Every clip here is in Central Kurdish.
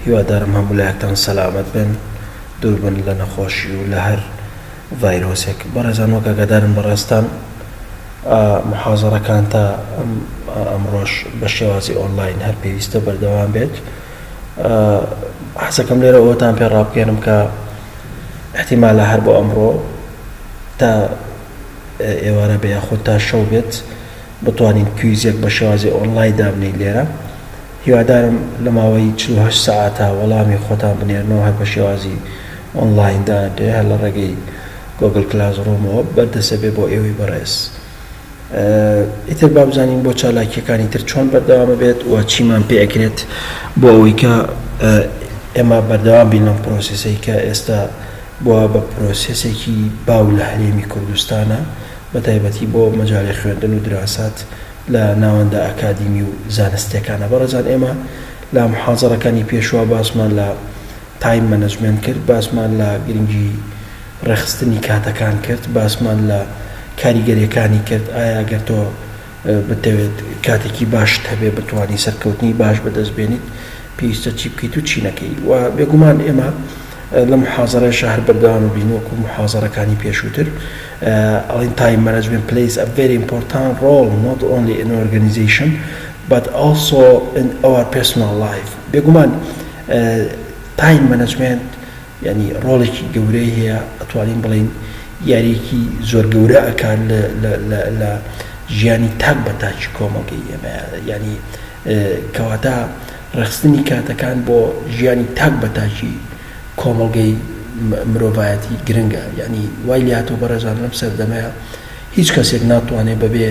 هیوادارم هەموو لایەکتان سەلامەت بن دوور بن لە نەخۆشی و لە هەر ڤایرۆسێک بەڕێزان وەک ئاگادارن بەڕێزتان ئا محازەڕەکان تا ئەم ئا ئەمڕۆش بە شێوازی ئۆنڵاین هەر پێویستە بەردەوام بێت ئا حەزەکەم لێرە ئەوەتان پێ ڕابکێنم کە احتیمالە هەر بۆ ئەمڕۆ تا ئێوارە بێ یاخود تا شەو بێت بتوانین کویزێک بە شێوازی ئۆنڵای دابنێین لێرە هیوادارم لە ماوەی چل و هەشت سەعاتە وەڵامی خۆتان بنێرنەوە هەر بە شێوازی ئۆنڵاین دانرێ هەر لە ڕێگەی گۆگڵ کلاس ڕوومەوە بەردەسە بێ بۆ ئێوەی بەڕێز ئیتر با بزانین بۆ چالاکیەکانی تر چۆن بەردەوامە بێت و چیمان پێ ئەکرێت بۆ ئەوەی کە ئێمە بەردەوام بین لەم پرۆسیسەی کە ئێستا بۆ بە پرۆسیسێکی باو لە هەرێمی کوردستانە بە تایبەتی بۆ مەجالی خوێندن و دراسات لە ناوەندە ئەکادیمی و زانستیەکانە. بەڕێزان ئێمە لە محازەڕەکانی پێشوە باسمان لە تایم مەنەجمێنت کرد، باسمان لە گرنگی ڕێخستنی کاتەکان کرد، باسمان لە کاریگەریەکانی کرد، ئایا ئەگەر تۆ بتەوێت کاتێکی باشت هەبێ بتوانی سەرکەوتنی باش بەدەست بێنیت پێویستە چی بکەیت و چی نەکەی و بێگومان ئێمە لەم محازەڕەشە هەر بەردەوام بین وەکو محازەڕەکانی پێشوتر. ئەڵێن تایم مەنەجمێنت پلەیس ئە ڤێری ئیمپۆرتان ڕۆڵ نۆت ئۆنلی ئین ئۆرگەنیزەیشن بەت ئەڵسۆ ئین ئەوەر پێرسناڵ لایف بێگومان تایم مەنەجمێنت یانی ڕۆڵێکی گەورەی هەیە ئەتوانین بڵێین یاریەکی زۆر گەورە ئەکات لە ژیانی تاک بە تاکی کۆمەڵگەی ئێمە یانی کەواتە ڕێکخستنی کاتەکان بۆ ژیانی تاک بە تاکی کۆمەڵگەی مرۆڤایەتی گرنگە یانی وای لێهاتوە بەڕێزان لەم سەردەمەیا هیچ کەسێک ناتوانێت بەبێ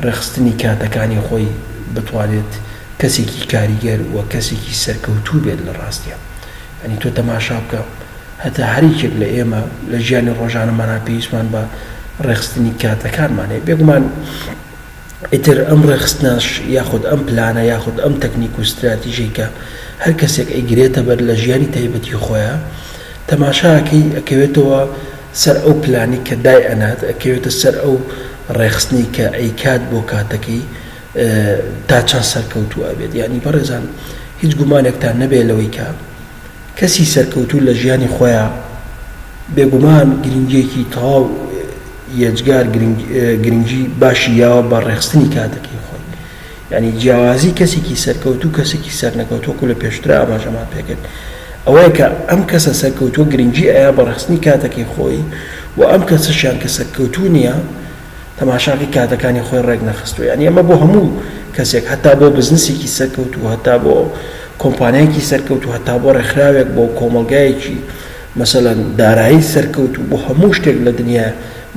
ڕێکخستنی کاتەکانی خۆی بتوانێت کەسێکی کاریگەر و کەسێکی سەرکەوتوو بێت لە ڕاستیا یانی تۆ تەماشا بکە هەتا هەر یەکێک لە ئێمە لە ژیانی ڕۆژانەمانا پێویستمان بە ڕێکخستنی کاتەکانمان هەیە بێگومان ئیتر ئەم ڕێکخستنەش یاخود ئەم پلانە یاخود ئەم تەکنیک و ستراتیژەی کە هەر کەسێک ئەیگرێتە بەر لە ژیانی تایبەتی خۆیا تەماشا ئەکەی ئەکەوێتەوە سەر ئەو پلانەی کە دای ئەنات ئەکەوێتە سەر ئەو ڕێکخستنەی کە ئەیکات بۆ کاتەکەی تا چەند سەرکەوتوو ئەبێت یانی بەڕێزان هیچ گومانێکتان نەبێت لەوەی کە کەسی سەرکەوتوو لە ژیانی خۆیا بێگومان گرنگیەکی تەواو یەجگار گرنگی باشی یاوە بە ڕێخستنی کاتەکەی خۆی یعنی جیاوازی کەسێکی سەرکەوتوو کەسێکی سەرنەکەوت وەکو لە پێشتر ئاماژەمان پێکرد ئەوەیە کە ئەم کەسە سەرکەوتووە گرنگی ئەیا بە ڕێخستنی کاتەکەی خۆی و ئەم کەسەشیان کە سەرکەوتوو نیە تەماشاکەی کاتەکانی خۆی ڕێک نەخستووە یانی ئەمە بۆ هەموو کەسێک هەتا بۆ بزنسێکی سەرکەوتوو هەتا بۆ کۆمپانیایەکی سەرکەوتوو هەتا بۆ ڕێکخراوێک بۆ کۆمەڵگایەکی مەسەلەن دارایی سەرکەوتوو بۆ هەموو شتێک لە دنیا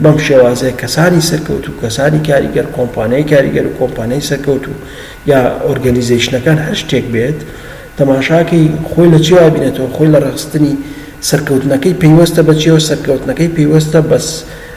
بەم شێوازەیە کەسانی سەرکەوتوو کەسانی کاریگەر کۆمپانیای کاریگەر و کۆمپانیای سەرکەوتوو یا ئۆرگەنیزەیشنەکان هەر شتێک بێت تەماشاکەی خۆی لە چیوا بینێتەوە خۆی لە ڕێخستنی سەرکەوتنەکەی پەیوەستە بە چیەوە سەرکەوتنەکەی پەیوەستە بەس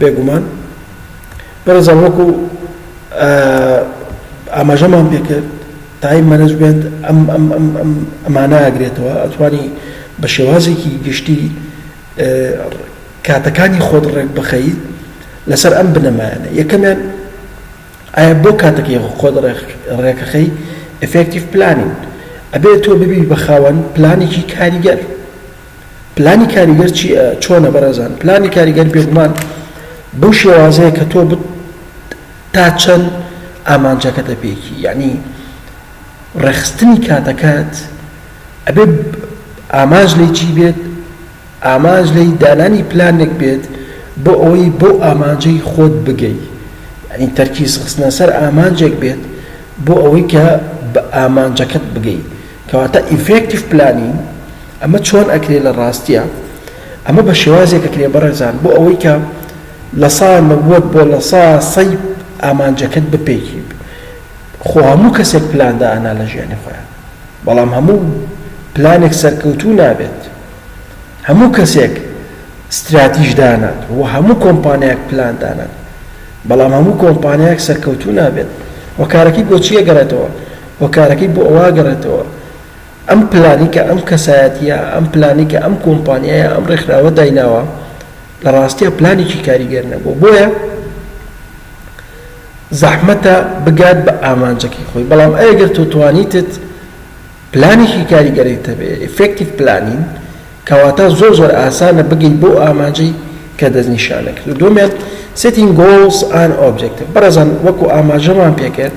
بێگومان بەڕێزان وەکو ئاماژەمان پێکرد تایم مەنجمنت ئەم ئەم ئەم ئەم ئەمانە ئاگرێتەوە ئەتوانی بە شێوازێکی گشتی کاتەکانی خۆت ڕێک بخەیت لەسەر ئەم بنەمایانە یەکەمیان ئایا بۆ کاتەکەی خۆت ڕێکەخەی ئفکتیف پلانین ئەبێت تۆ ببی بە خاوەن پلانێکی کاریگەر پلانی کاریگەر چی چۆنە بەڕێزان پلانی کاریگەر بێگومان بەو شێوازەیە کە تۆ بت تا چەند ئامانجەکە دەپێکی یعنی ڕێخستنی کاتەکەت ئەبێ ئامانج لی چی بێت ئامانج لی دانانی پلانێک بێت بۆ ئەوەی بۆ ئامانجەی خۆت بگەیت ئەین تەرکیز خستنە سەر ئامانجێک بێت بۆ ئەوەی کە بە ئامانجەکەت بگەیت کەواتە Effective Planning ئەمە چۆن ئەکرێ لە ڕاستیە ئەمە بە شێوازێک ئەکرێ بەڕێزان بۆ ئەوەی کە لەسا نەوەد بۆ لەسا سەی ئامانجەکەت بپێکی خۆ هەموو کەسێک پلان دائەنا لە ژیانی خۆیان بەڵام هەموو پلانێک سەرکەوتوو نابێت هەموو کەسێک ستراتیژ دانات و هەموو کۆمپانیاک پلان دانات بەڵام هەموو کۆمپانیاک سەرکەوتوو نابێت وەکارەکەی بۆچیە گەرێتەوە هۆکارەکەی بۆ ئەوە ئەگەڕێتەوە ئەم پلانەی کە ئەم کەسایەتییە، ئەم پلانەی کە ئەم کۆمپانیایە، ئەم ڕێکخراوە دایناوە، لە ڕاستیا پلانێکی کاریگەر نەبووە. بۆیە زەحمەتە بگات بە ئامانجەکەی خۆی. بەڵام ئەی گەر تۆ توانیتت پلانێکی کاریگەرت هەبێ، Effective Planning، کەواتە زۆر زۆر ئاسانە بگەیت بەو ئامانجەی کە دەستنیشان ئەکرێت. دووەمیان Setting Goals and Objectives، بەڕێزان وەکو ئاماژەمان پێکرد،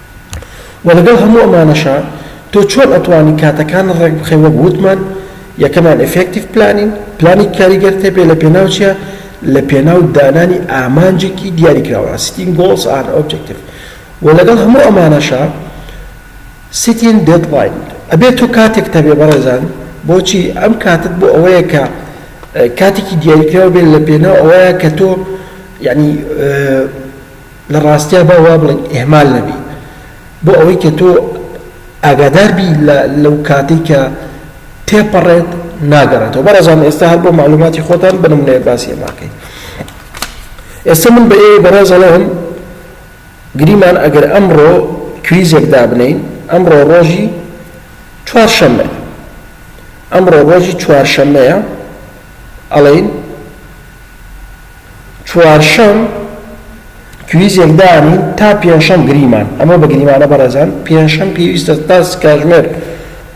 وە لەگەڵ هەموو ئەمانەشا تۆ چۆن ئەتوانی کاتەکانت ڕێک بخەی وەک وتمان یەکەمیان ئیفێکتیڤ پلانینگ پلانێکی کاریگەرت هەبێ لە پێناو چیا لە پێناو دانانی ئامانجێکی دیاریکراوە Setting Goals and Objective وە لەگەڵ هەموو ئەمانەشا Setting Deadline ئەبێ تۆ کاتێکت هەبێ بەڕێزان بۆچی ئەم کاتت بۆ ئەوەیە کە کاتێکی دیاریکراو بێ لە پێناو ئەوەیە کە تۆ یەعنی لە ڕاستیا با وا بڵێین ئیهمال نەبی بۆ ئەوەی کە تۆ ئاگادار بی لە لەو کاتەی کە تێپەڕێت ناگەڕێتەوە بەڕێزان ئێستا هەر بۆ مەعلوماتی خۆتان بە نمونەیە باسی ئەمە ئەکەین ئێستا من بە ئێوەی بەڕێز ئەڵێم گریمان ئەگەر ئەمڕۆ کویزێک دابنین ئەمڕۆ ڕۆژی چوارشەممە ئەمڕۆ ڕۆژی چوارشەممەیە ئەڵین چوارشەم کویزێک دانین تا پێنجشەم گریمان ئەمە بە گریمانە بەڕێزان پێنجشەم پێویستە تا کاتژمێر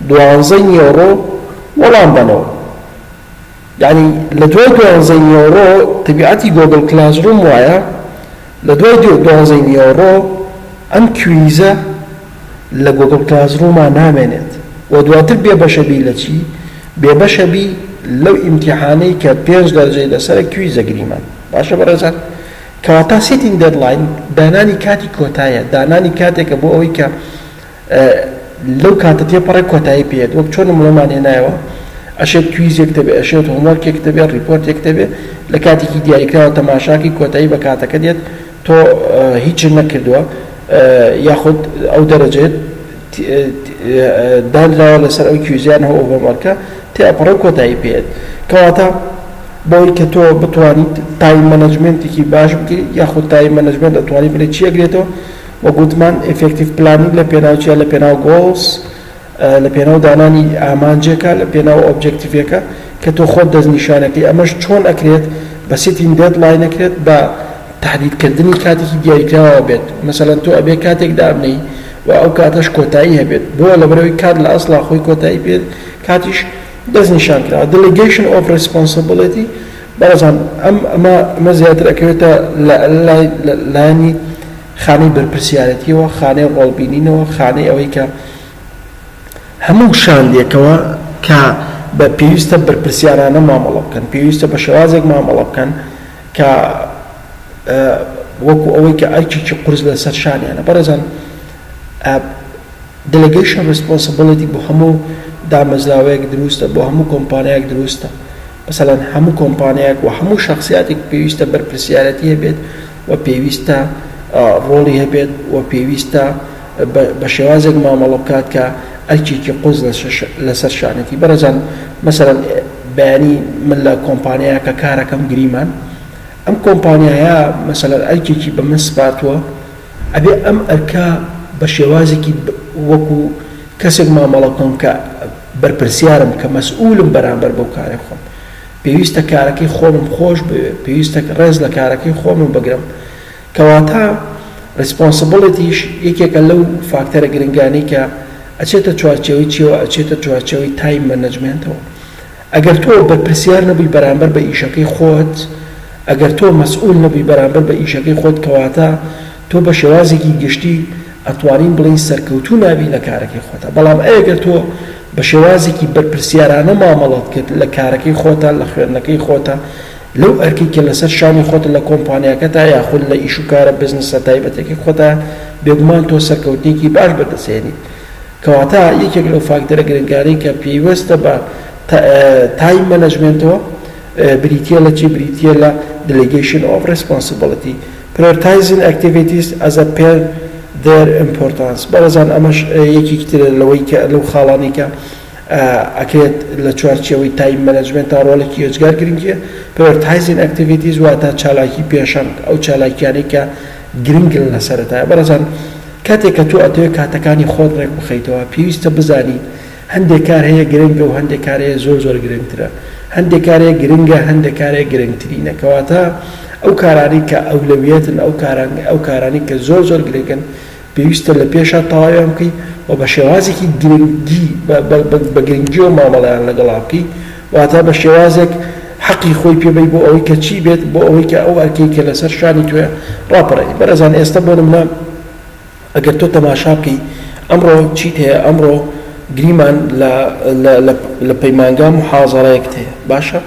دوانزەی نیوەڕۆ وەڵام بەنەوە یعنی لە دوای دوانزەی نیوەڕۆ تەبیعەتی گۆگل کلاس ڕوم وایە لە دوای دوانزەی نیوەڕۆ ئەم کویزە لە گۆگڵ کلاس ڕووما نامێنێت و دواتر بێ بەشە بی لە چی؟ بێ بەشە بی لەو ئیمتیحانەی کە پێنج دەرجەی لەسەرە کویزە گریمان باشە بەڕێزان کەواتە سیتینگ دێدڵاین دانانی کاتی کۆتایە دانانی کاتێکە بۆ ئەوەی کە لەو کاتە تێپەڕێ کۆتایی پێێت وەک چۆن نمونەمان هێنایەوە ئەشێت کویزێک دەبێت ئەشێت هۆمۆرکێک دەبێت ڕیپۆرتێک دەبێت لە کاتێکی دیاریکراوە تەماشاکی کۆتایی بە کاتەکە دێت تۆ هیچت نەکردووە یاخود ئەو دەرەجەت دانراوە لەسەر ئەو کیوزیانە و هۆمۆرکە تێئەپەڕێ و کۆتایی پێیەت کەواتە بۆی کە تۆ بتوانیت تایم مەنەجمێنتێکی باش بکەیت یاخود تایم مەنەجمێنت ئەتوانی بڵێ چی ئەگرێتەوە وەک وتمان ئیفێکتیڤ پلانینگ لە پێناو چیە لە پێناو گۆڵس لە پێناو دانانی ئامانجێکە لە پێناو ئۆبجێکتیڤێکە کە تۆ خۆت دەستنیشانەکەی ئەمەش چۆن ئەکرێت بە سیتین دێد ڵاینەکرێت بە تەحدید کردنی کاتێکی دیاریکراوەوە بێت مەسەلەن تۆ ئەبێ کاتێک دابنێی و ئەو کاتەش کۆتایی هەبێت بۆ لەبەرەوەی کات لە ئەسڵا خۆی کۆتایی پێ کاتیش دەستنیشانکراوە دلیگەیشن ئۆف ڕیسپۆنسبڵێتی بەڕێزان ئەم ئەمە ئەمە زیاتر ئەکەوێتە لە لای لایەنی خانەی بەرپرسیارێتیەوە، خانەی ڕۆڵ بینینەوە، خانەی ئەوەی کە هەموو شاندێکەوە کە بە پێویستە بەرپرسیارانە مامەڵە بکەن، پێویستە بە شێوازێک مامەڵە بکەن کە وەکو ئەوەی کە ئەرکێکی قورس لە سەر شانیانە بەڕێزان دلگەیشن ڕیسپۆنسبڵێتی بۆ هەموو دامەزراوەیەک دروستە بۆ هەموو کۆمپانیایەک دروستە. مەسەلەن هەموو کۆمپانیایەک و هەموو شەخسیاتێک پێویستە بەرپرسیارەتی هەبێت و پێویستە ڕۆڵی هەبێت و پێویستە بە شێوازێک مامەڵە بکات کە ئەرکێکی قورس لەسەر شانێتی بەڕێزان مەسەلەن بەیانی من لە کۆمپانیایەکە کارەکەم گریمان ئەم کۆمپانیایە مەسەلەن ئەرکێکی بە من سپارتووە ئەبێ ئەم ئەرکە بە شێوازێکی وەکو کەسێک مامەڵە بکەم کە بەرپرسیارم کە مەسئولم بەرامبەر بەو کارەی خۆم. پێویستە کارەکەی خۆمم خۆش بوێ، پێویستە رێز لە کارەکەی خۆمم بگرم. کەواتە ریسپۆنسبڵێتیش یەکێکە لەو فاکتەرە گرنگانەی کە ئەچێتە چوارچێوەی چیەوە ئەچێتە چوارچێوەی تایم مەنەجمێنتەوە. ئەگەر تۆ بەرپرسیار نەبووی بەرامبەر بە ئیشەکەی خۆت، ئەگەر تۆ مەسئول نەبووی بەرامبەر بە ئیشەکەی خۆت کەواتە، تۆ بە شێوازێکی گشتی ئەتوانین بڵێین سەرکەوتوو نابی لە کارەکەی خۆتا بەڵام ئەگەر تۆ بە شێوازێکی بەرپرسیارانە مامەڵەت کرد لە کارەکەی خۆتا لە خوێندنەکەی خۆتا لەو ئەرکەی کە لەسەر شانی خۆتە لە کۆمپانیاکەتا یاخود لە ئیش و کارە بزنسە تایبەتەکەی خۆتا بێگومان تۆ سەرکەوتنێکی باش بەدەست هێنیت کەواتە یەکێک لەو فاکتەرە گرنگانەی کە پێیوەستە بە تایم مەنەجمێنتەوە بریتیە لە چی بریتیە لە دلیگەیشن ئۆف ڕێسپۆنسبڵتی Prioritizing activities as a per their importance بەڕێزان ئەمەش یەکێکی ترە لەوەی کە لەو خاڵانەی کە ئەکرێت لە چوارچێوەی تایم مەنەجمێنتا ڕۆڵێکی ئێجگار گرنگیە Prioritizing activities واتە چالاکی پێشەنگ ئەو چالاکیانەی کە گرنگن لە سەرەتایە بەڕێزان کاتێک کە تۆ ئەتەوێت کاتەکانی خۆت ڕێک بخەیتەوە پێویستە بزانیت هەندێک کار هەیە گرنگە و هەندێک کار هەیە زۆر زۆر گرنگترە، هەندێک کار هەیە گرنگە هەندێک کار هەیە گرنگترینە کەواتە ئەو کارانەی کە ئەولەویەتن ئەو کاران ئەو کارانەی کە زۆر زۆر گرنگن پێویستە لە پێشا تەواویان بکەی و بە شێوازێکی گرنگی بە گرنگیەوە مامەڵەیان لەگەڵا بکەی واتە بە شێوازێک حەقی خۆی پێ بەی بۆ ئەوەی کە چی بێت بۆ ئەوەی کە ئەو ئەرکەی کە لەسەر شانی تۆیە ڕاپەڕێنی بەڕێزان ئێستە بۆ نمونە ئەگەر تۆ تەماشا بکەی ئەمڕۆ چیت هەیە ئەمڕۆ گریمان لە لە لە لە پەیمانگا موحازەڕەیەکت هەیە باشە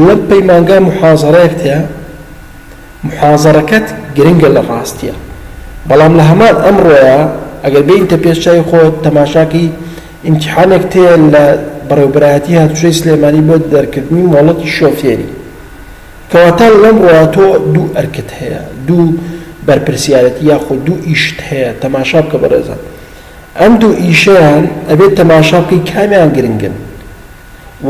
لە پەیمانگا موحازەڕەیەکت هەیە موحازەڕەکەت گرنگە لە ڕاستیە بەڵام لە هەمان ئەمڕۆیە ئەگەر بێینتە پێش چای خۆت تەماشاکەی ئیمتیحانێکت هەیە لە بەڕێوبەرایەتی هاتوچۆی سلێمانی بۆ دەرکردنی مۆڵەتی شۆفێری کەواتە لەم ڕووە تۆ دوو ئەرکت هەیە، دوو بەرپرسیارێتی یاخود دوو ئیشت هەیە، تەماشا بکە بەڕێزان ئەم دوو ئیشەیان ئەبێت تەماشا بکەی کامیان گرنگن و،